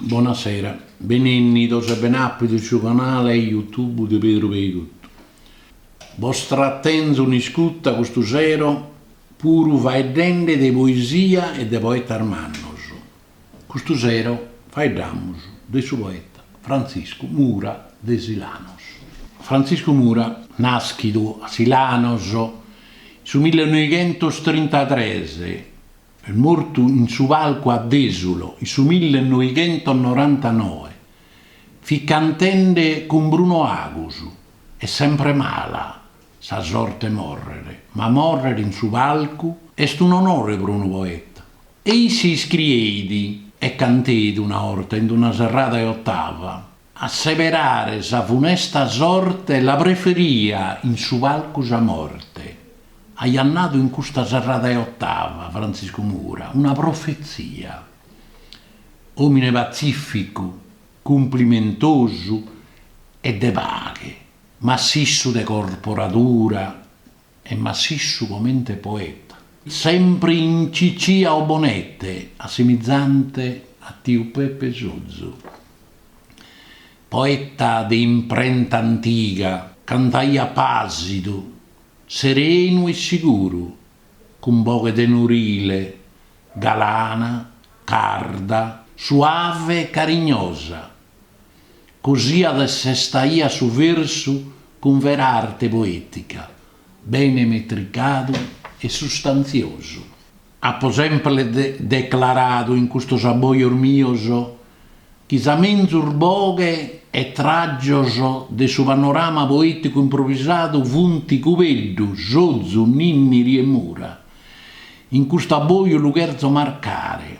Bona sera. Benennidos e ben'apidos su canale YouTube de Pedru Peigottu. Bos trattenzo in iscutta custu sero puru faeddende de poesia e de poetas mannos. Custu sero faeddamus de su poeta Frantziscu Mura de Silanos. Frantziscu Mura, nàschidu a Silanos in su millenoighentostrintatres e mortu in su palcu a Desulo in su millenoighentonorantanoe, fit cantende cun Bruno Agus. Est sempre mala sa sorte, morrere, ma morrere in su palcu est un'onore pro unu poeta. E isse iscrieit e canteit una 'orta in una serrada 'e otava, A seberare sa funesta sorte la preferia in su palcu sa morte. Aiat nadu in custa serrada 'e otava Frantziscu Mura una profetzia. Òmine patzìficu, cumplimentosu e de paghe, Massissu de corporadura e massissu comente poeta. Sempre in cicìa o bonette, assimizante a tiu Peppe Sozu. Poeta de imprenta antiga, cantaiat pàsidu, serenu e siguru, cun boghe tenurile, galana, carda, suave e carignosa, Cosiat e sestaiat su versu cun vera arte poètica, bene metricadu e sustantziosu. Apo sempre declaradu in custos abbojos mios chi sa menzus boghe e tràgios de su panorama poèticu improvisadu funt Cubeddu, Sozu, Ninniri e Mura. In custu abboju lu cherzo marcare.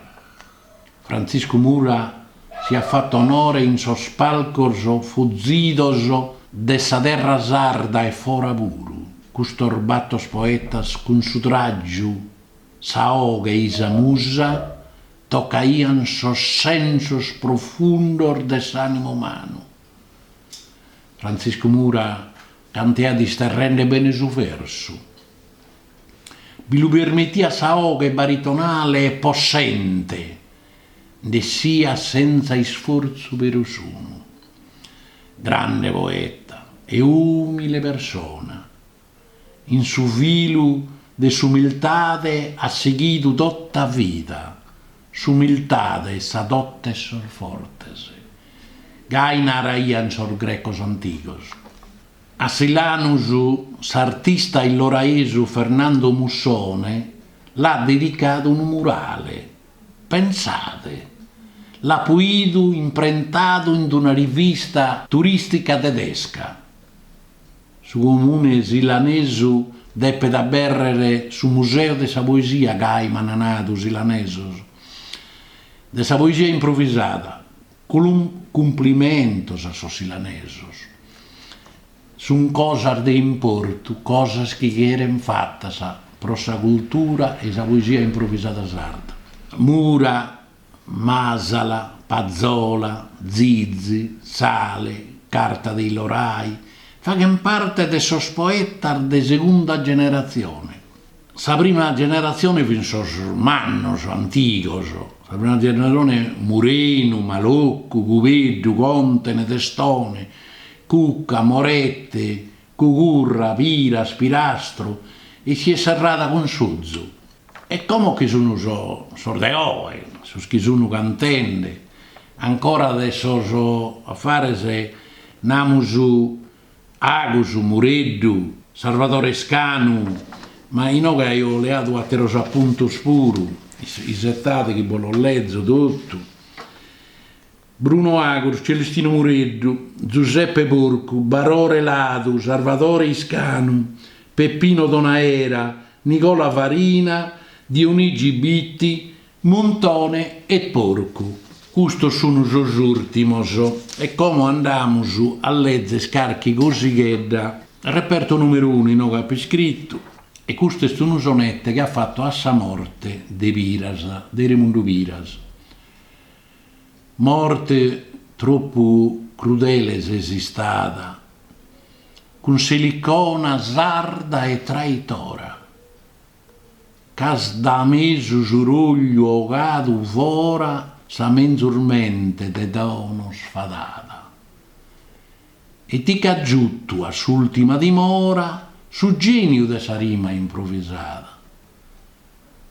Frantziscu Mura si at fatu onore in sos palcos fozidos de sa terra sarda e fora puru, custos batos poetas cun su tràgiu, sa 'oghe e-i sa musa tocaiant sos sensos profundos de s'ànimu umanu. Frantziscu Mura cantaiat isterrende bene su versu. Bi lu permetiat sa 'oghe baritonale e possente nd'essiat senza isfortzu perusunu. Grande poeta e umile persona, in su filu de s'umiltade at seghidu tota vida. S'umiltade est sa dote 'e sos fortes, gai naraiant sos grecos antigos. A Silanus s'artista illoraesu Fernando Mussone l'at dedicadu unu murale. Pensade! L'apo idu imprentadu in una rivista turìstica tedesca. Su comune silanesu depet abèrrere su museu de sa poesia gai, m'ant nadu silanesos, de sa poesia improvisada, Cun cumplimentos a sos silanesos. Sun cosas de importu, cosas chi cheren fatas pro sa cultura e sa poesia improvisada sarda. Mura, Masala, Pazzola, Zizi, Sale, Carta de Illorai, faghen parte de sos poetas de segunda generatzione, Sa prima generatzione fin sos mannos, antigos, sa prima generatzione Murenu, Maloccu, Cubeddu, Contene, Testone, Cucca, Morette, Cugurra, Piras, Pirastru e si est serrada cun Sozu. E como chi sun sos de oe, sos chi sun cantende ancora de sos affares namus Agus, Mureddu, Sarvadore Scanu, ma inoghe aio leadu àteros apuntos puru, isetade chi bos los lezo totu, Bruno Agus, Celestino Mureddu, Giuseppe Porcu, Barore Ladu, Sarvadore Iscanu, Peppino Donaera, Nicola Farina, Dionigi Bitti, Muntone e Porcu, custos sun sos ùrtimos, e como andamus a lèzer carchi cosighedda, reperto nùmeru unu inoghe apo iscritu, e custu est unu sonette chi at fatu a sa morte de Piras, de Remundu Piras. Morte tropu crudele ses istada, cun s'Elicona sarda e traitora. Ch'as da mesu su rogliu 'ogadu fora sa menzus mente de donos fadada e ti ch'as giutu a s'ultima dimora su geniu de sa rima improvisada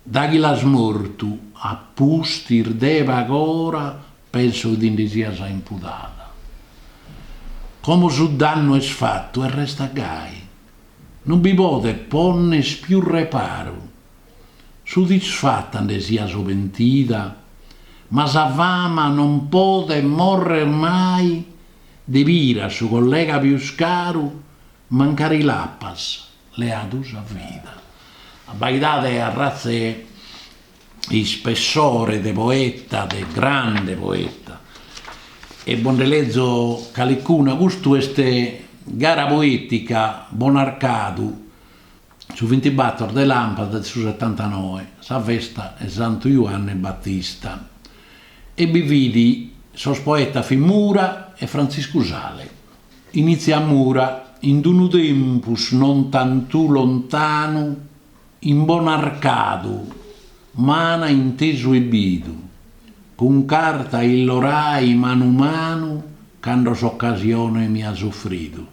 daghi l'as mortu a pustis de pag'ora penso ti ndi sias impudada como su dannu est fatu e restat gai Non bi podet ponner pius reparu. Suddisfata nde sias o pentida, ma sa fama non podet morrer mai de Piras su collega pius caru mancari l'apas leadu sa vida. Abbaidade arratz'e ispessore de poeta, de grande poeta, e bo nde lezo calicuna, custu est Gara poetica, Bonarcadu, su vintibator de lampadas de su setantanoe, sa festa 'e Santu Juanne Battista, e bi fit sos poetas fit Mura e Frantziscu Sale. Initziat Mura, in d-unu tempus non tantu lontanu, in Bonarcadu, m'ana intesu e bidu, cun Carta 'e Illorai manu manu cando s'occasione mi as offridu.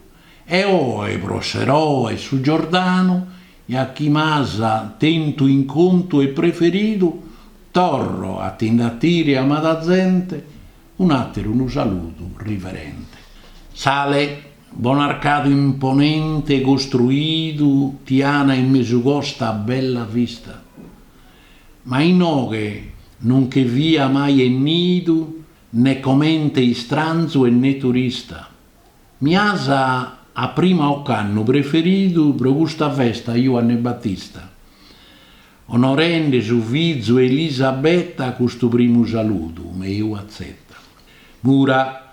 E oe pro s'eroe 'e su Giordanu, ja chi m'as tentu in contu e preferidu, torro a ti nde 'atire amada zente un'ateru unu saludu riverente. Sale. Bonarcadu imponente costruidu ti ana in mesu costa a bella vista, ma inoghe non che fia mai 'ennidu ne comente istranzu e ne turista. Mi asa a prima ocannu preferidu pro custa festa 'e Juanne Battista, onorende su fizu 'e Elisabetta custu primu saludu meu atzeta. Mura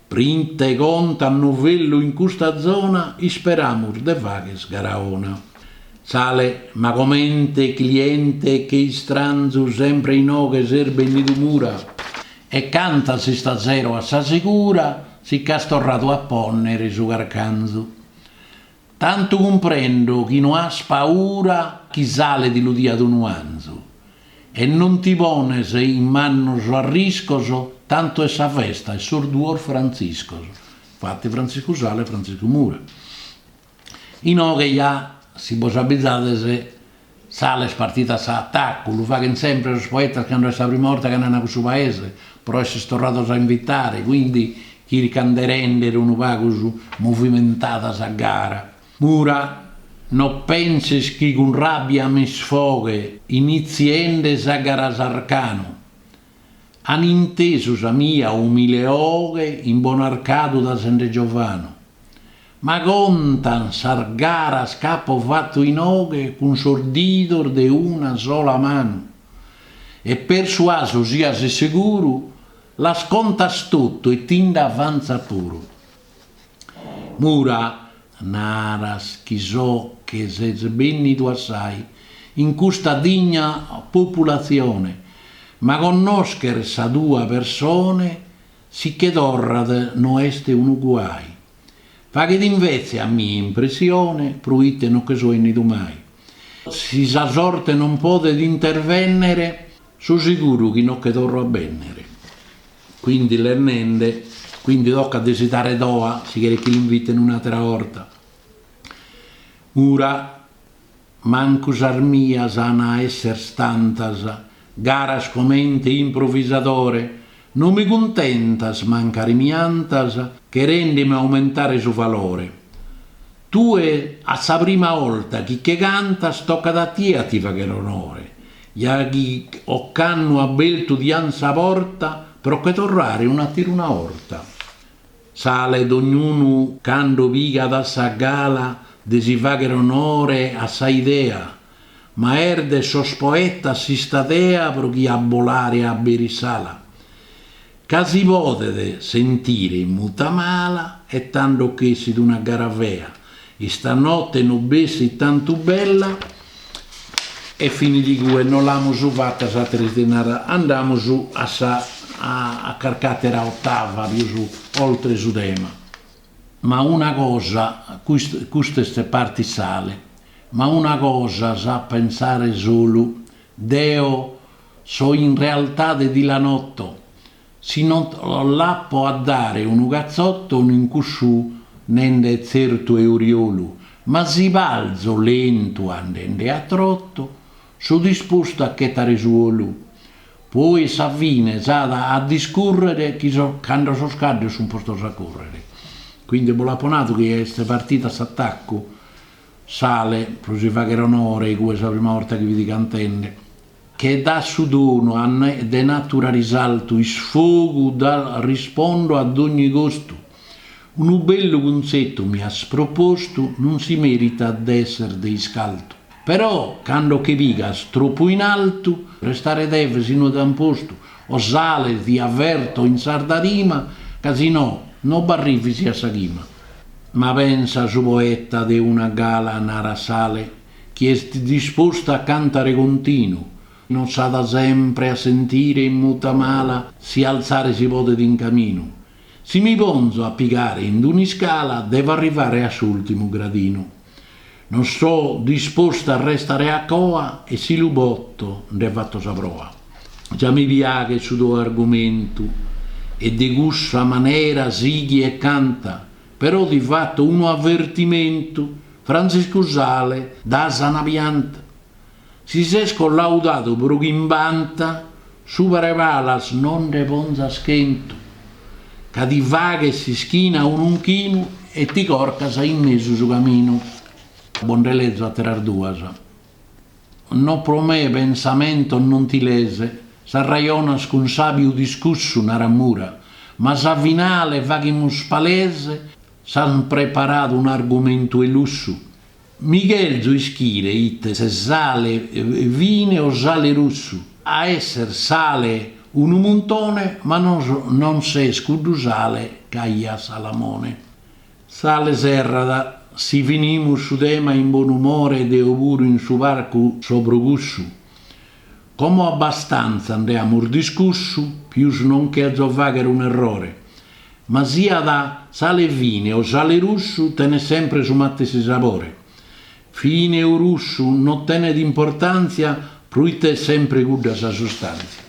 Pri nte conta novellu in custa zona isperamus de fagher gara 'ona. Sale, ma comente cliente che istranzu sempre inoghe ses bennidu Mura e cantas istasero a sa segura si ch'as torradu a ponnere su carcanzu. Tantu cumprendo chi no as paura chi Sale ti lu diat unu 'anzu, e non ti pones in mannos arriscos, tantu est sa festa 'e sos duos Frantziscos, infati Frantziscu Sale e Frantziscu Mura. Inoghe ja, si bos abbizades, Sale est partidu a s'atacu, lu faghent sempre sos poetas cando est sa prima 'orta ch'andan a cussu paese, pro esser torrados a invitare, quindi chircant de render unu pagu prus movimentada sa gara. Mura, No penses chi cun rabbia m'isfoghe initziende sa gara s'arcanu. An intesu sa mia umile 'oghe in Bonarcadu da sende giovanu. Ma contan sas garas ch'apo fatu inoghe cun sos didos de una sola manu. E persuasu sias seguru, las contas totu e ti nd'avantzat puru. Mura, naras chi so che ses bènnidu assai in custa digna populatzione, ma connòscher sa tue persone si che torrat no est unu guai. Faghet invètze a mie impressione proite no che so 'ennidu mai. Si sa sorte non podet intervènnere, so seguru chi no che torro a bènnere. Quindi lennende, quindi tocat de si dare doa, si cheret chi l'inviten un'àtera 'orta. Mura, mancu sas mias an a esser tantas garas comente improvisadore, no mi cuntentas mancari mi 'antas cherendemi aumentare su valore. Tue est sa prima 'orta chi che cantas tocat a tie a ti fagher onore, Ja chi ocannu abertu diant sa porta pro che torrare un'atter'una 'orta, Sale, d'ognunu cando pigat sa gala de si fagher onore a sa idea, ma est de sos poetas s'istadea pro chi a bolare aberit s'ala. Ca si podet sentire in muta mala e tando ch'essit una gara fea, istanotte no bessit tantu bella e finit igue, no l'amus fata sa tres de nara, andamus a sa a carc'atera ottava pius oltre su tema. Ma una cosa, custa est partit Sale, ma una cosa s'at pensare solu Deo so in realtade de Silanotto, si no l'apo a dare unu catzotto in cussu nende est tzertu oriolu, ma si balzo lentu andende a trotto, so dispostu a chetare su 'olu, poi a sa fine s'at a discurrere cando sos caddos sun postos a correre. Quindi bos l'apo nadu chi est partidu a s'attaccu. Sale, pro si fagher onore, igue est sa prima borta chi fit cantende, che dat su donu de natura risaltu isfogu dal rispondo a dogni costu unu bellu cunzetu mi as propostu non si meritat de esser de iscaltu però cando che pigas troppu in altu restare deve sinnu d'unu postu o sale ti averto in sarda rima ca si no no b'arrivis a sa chima. Ma pensa su poeta de una gala narat Sale chi est dispostu a cantare continu non s'at sempre a sentire in muta mala si alzare si podet in caminu si mi ponzo a pigare in d'un'iscala devo arrivare a s'ultimu gradinu. Non so disposta a restare a coa e si lu boto nde fatto sa proa. Già mi piaghet su tou argumentu e de cussa manera sighi e canta, però ti fatto unu avvertimentu, Frantziscu Sale da sana pianta. Si ses collaudadu pro chimbanta supra 'e palas non nde ponzas chentu, ca ti faghes s'ischina a un'unchinu e ti corcas in mesu su caminu. Bo nde lezo àteras duas, no pro me pensamentu non ti lees, s'arrajonas cun sàbiu discussu narat Mura, ma sa finale faghimus palese, s'an preparadu un'argumentu 'e lussu? Mi cherzo ischire ite ses sale fine o sale russu. A esser sale unu muntone ma non ses cuddu sale ch'aiat Salamone. Sale serrat. Si finimus su tema in bonu umore deo puru in su parcu so pro cussu. Como abastanza nde amus discussu, pius non cherzo fagher un'errore, ma siat sale fine o sale russu tenet sempre su matessi sabore. Fine o russu no tenet importantzia proite est sempre cudda sa sustantzia.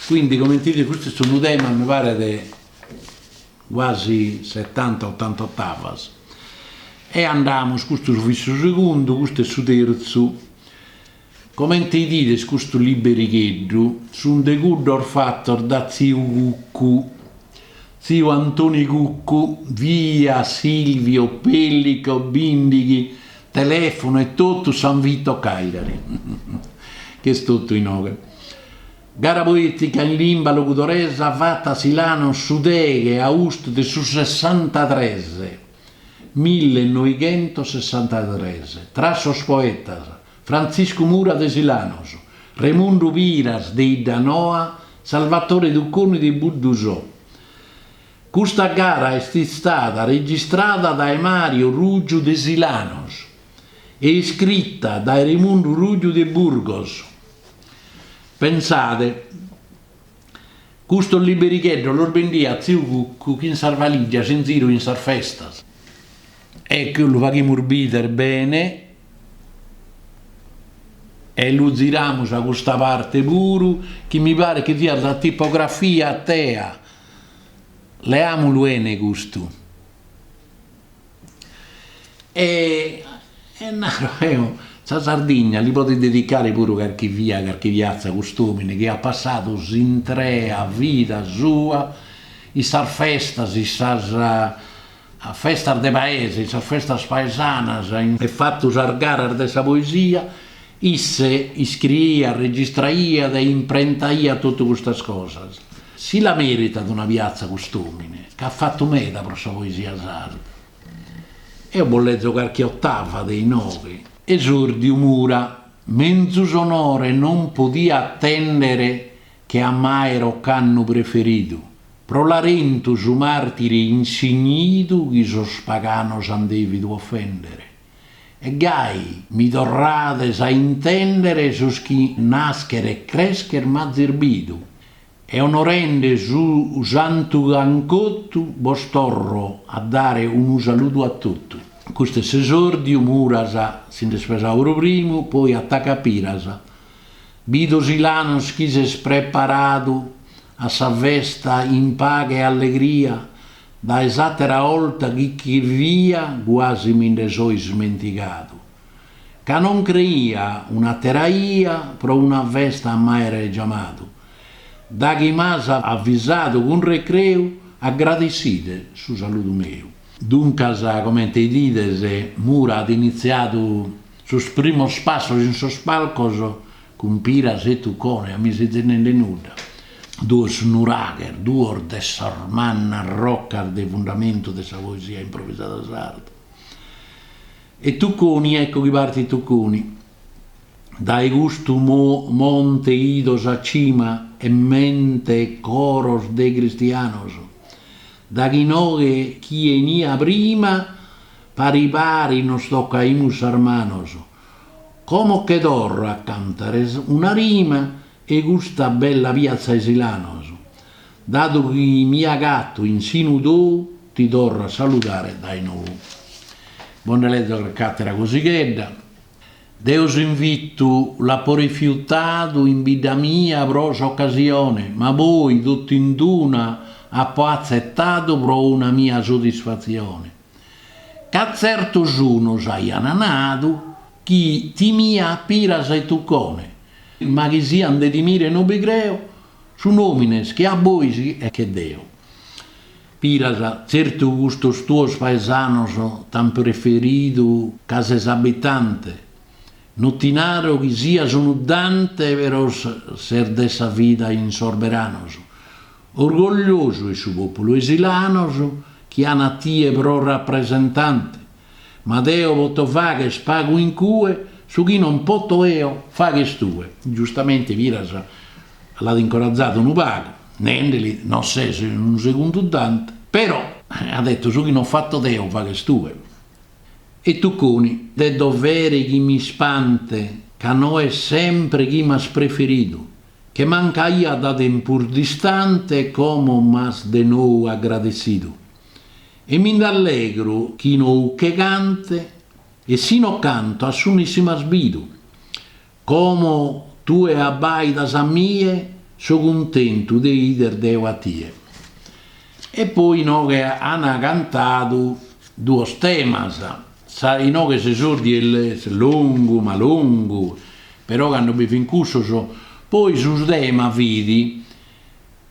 Quindi comente 'idides custu est unu tema mi paret guasi setanta otanta ottavas. E andamus, custu fit su segundu, custu est su terzu. Comente 'idides custu liberigheddu est unu de cuddos fatos da tziu Cuccu. Tziu Antoni Cuccu, via Silvio Pellico, bindighi, telefonu e totu San Vito Cagliari. Ch'est totu inoghe. Gara poetica in limba logudoresa fata a Silanos su deghe austu de su sessantatres, millenoighentos sessantatres, tra sos poetas Frantziscu Mura de Silanos, Raimundu Piras de Iddanoa, Salvatore Tucconi de Buddusò. Custa gara est istada registrada dae Mario Ruggiu de Silanos e iscrita dae Raimundu Ruggiu de Burgos. Pensade, custos liberigheddos los bendiat tziu Cuccu chin sas valigias in ziru in sas festas. E che lu faghimus bider bene e lu ziramus a custa parte puru chi mi paret chi fiat sa tipografia TEA, leamulu 'ene custu. E e naro eo, sa Sardigna li podet dedicare puru carchi via e carchi piazza a cust'omine chi at passadu s'intrea vida sua in sas festas in sas A festas de paese, in sas festas paesanas. E fatu sas garas de sa poesia, isse iscriiat, registraiat e imprentaiat totu custas cosas. Si la meritat una piatza cust'omine, c'at fatu meda pro sa poesia sarda. Eo bos lezo carchi ottava de inoghe. Esòrdiu Mura, menzus onore non podia attendere che a m'aer occannu preferidu, pro Larentu su martiri insignidu chi sos paganos an devidu offendere, e gai mi torrades a intendere sos chi nascher e crescher m'azis bidu, e onorende su santu c'an cotu bos torro a dare unu saludu a totu. Custu est s'esordiu, Muras si nd'est pesadu pro primu, poi attacca Piras. Bido Silanos chi ses preparadu a sa festa in paghe e allegria dae s'àtera 'olta chi che fia guasi mi nde so ismentigadu, ca non creia un'àtera 'ia pro una festa a m'àere giamadu, daghi m'as avvisadu cun recreu, agradesside su saludu meu. Duncas, comente 'idides, Mura at initziadu. Sos primos passos in sos palcos cun Piras e Tuccone a mi sezis nende nudda. Duos nuraghes, duos de sas mannas rocas de fundamentu de sa poesia improvisada sarda. E Tucconi, ecco chi partit Tucconi. Dae custu monte ido sa cima e mente e coros de cristianos, daghi inoghe che 'enia prima, Pari pari nos tocaimus sas manos. Como che torro a cantares una rima 'e custa bella piazza 'e Silanos. Dadu chi mi agatto in sinu tou ti torro a saludare dae nou. Bo nde lezo calchi attera cosighedda. Deo s'invitu l'apo rifiutadu in bidda mia pro s'occasione, ma poi tottu in d'una apo azzettadu pro una mia soddisfazione. ca tzertos unos aiant nadu chi timia Piras e Tuccone, ma chi sian de timire no bi creo, sun òmines che a bois e che deo, Piras tzertu custos tuos paesanos t'an preferidu ca ses abitante, no ti naro chi sias unu Dante però ses de sa vida in sos beranos, Orgogliosu est su populu 'e Silanos chi an a tie pro rapresentante, ma deo poto fagher pagu in cue su chi non poto 'eo faghes tue. Giustamente Piras l'at incorazadu unu pagu, nendeli, non ses unu segundu Dante, però, at detto, su chi non fatto deo faghes tue. E Tucconi, de dovere chi m'ispante, ca no est sempre chi m'as preferidu, Che mancaia da tempus distante como m'as de nou agradessidu e mi nd'allegro chi inoche cante e si no canto a su nessi m'as bidu como tue abbaidas a mie so cuntentu de ider deo a tie e poi inoghe ana cantadu duos temas. Sa inoche s'esordiu est longu ma longu, però cando bi fin cussos poi su tema fit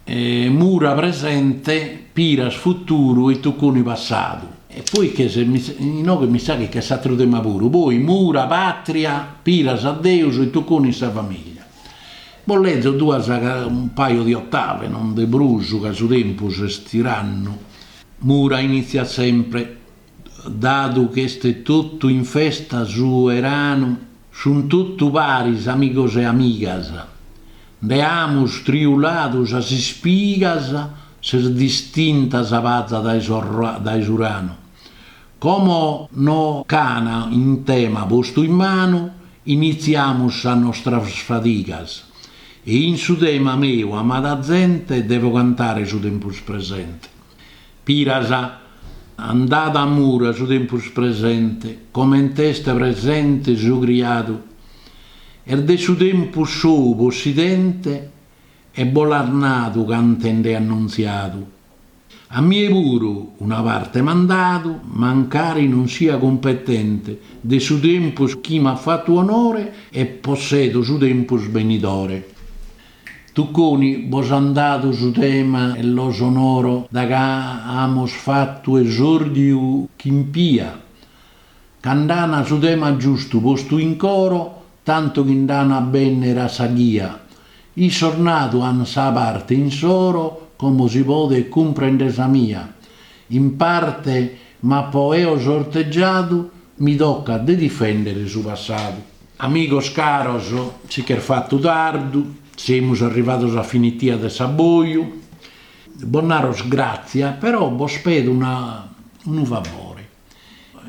Mura presente, Piras futuru e Tucconi passadu. E poi che ses mi inoghe mi sa chi ch'est s'atteru tema puru, poi Mura patria, Piras a Deus e Tucconi sa famiglia. Bos lezo duas un paio di ottave, non de prus ca su tempus est tirannu, Mura iniziat sempre. dadu ch'est totu in festa su 'eranu, sunt totu paris amigos e amigas, nde amus triuladu sas ispigas, s'est distinta sa paza dae su ranu, como nos ch'ana in tema postu in manu, initziamus sas nostras fadigas, e in su tema meu amada zente devo cantare su tempus presente. Piras, an dadu a Mura su tempus presente, comente est presente su criadu, est de su tempus sou possidente e bos l'at nadu cantende annuntziadu. A mie puru una parte m'ant dadu, mancari non sia cumpetente, de su tempus chi m'at fatu onore e possedo su tempus benidore. Tucconi, bos an dadu su tema e los onoro daghi amos fattu esordiu chimpia, ca nd'ana su tema giustu postu in coro, tantu chi nd'ana a bennere a sa ghia. Issos nadu an sa parte insoro, como si podet cumprender sa mia, in parte m'apo eo sortegiadu, mi toccat de difendere su passadu. Amigos caros, si ch'est fatu tardu, semus arrivados a finitia de s'aboju, bos naro gràtzias, però bos pedo unu, unu favore,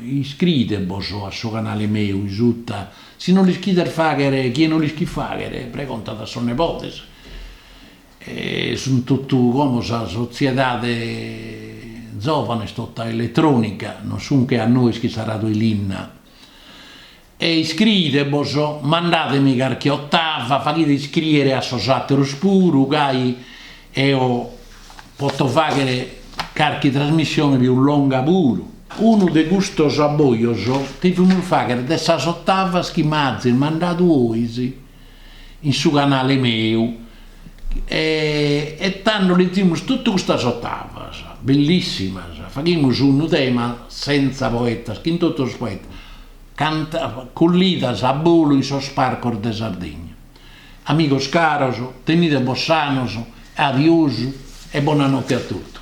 iscriidebos a su canale meu in suta, si no l'ischides fàghere, chie no l'ischit fàghere pregontat a sos nebodes, sunt totu como sa sotziedade zovanes tota eletrònica, non sun che a nois chi s'aradu 'e linna E iscriidebos, mandademi carchi otava, faghide iscriere a sos ateros puru, gai eo poto faghere carchi trasmissione pius longa puru. Unu de custos abbojos devimus fagher de sas otavas chi m'azis mandadu ois in su canale meu e tando lezimus totu custas otavas bellissimas, faghimus unu tema senza poetas chin totus poetas. Canta cullidas a bolu in sos parcos de Sardigna. Amigos caros, tenide bos sanos, adiosu e bona notte a totu.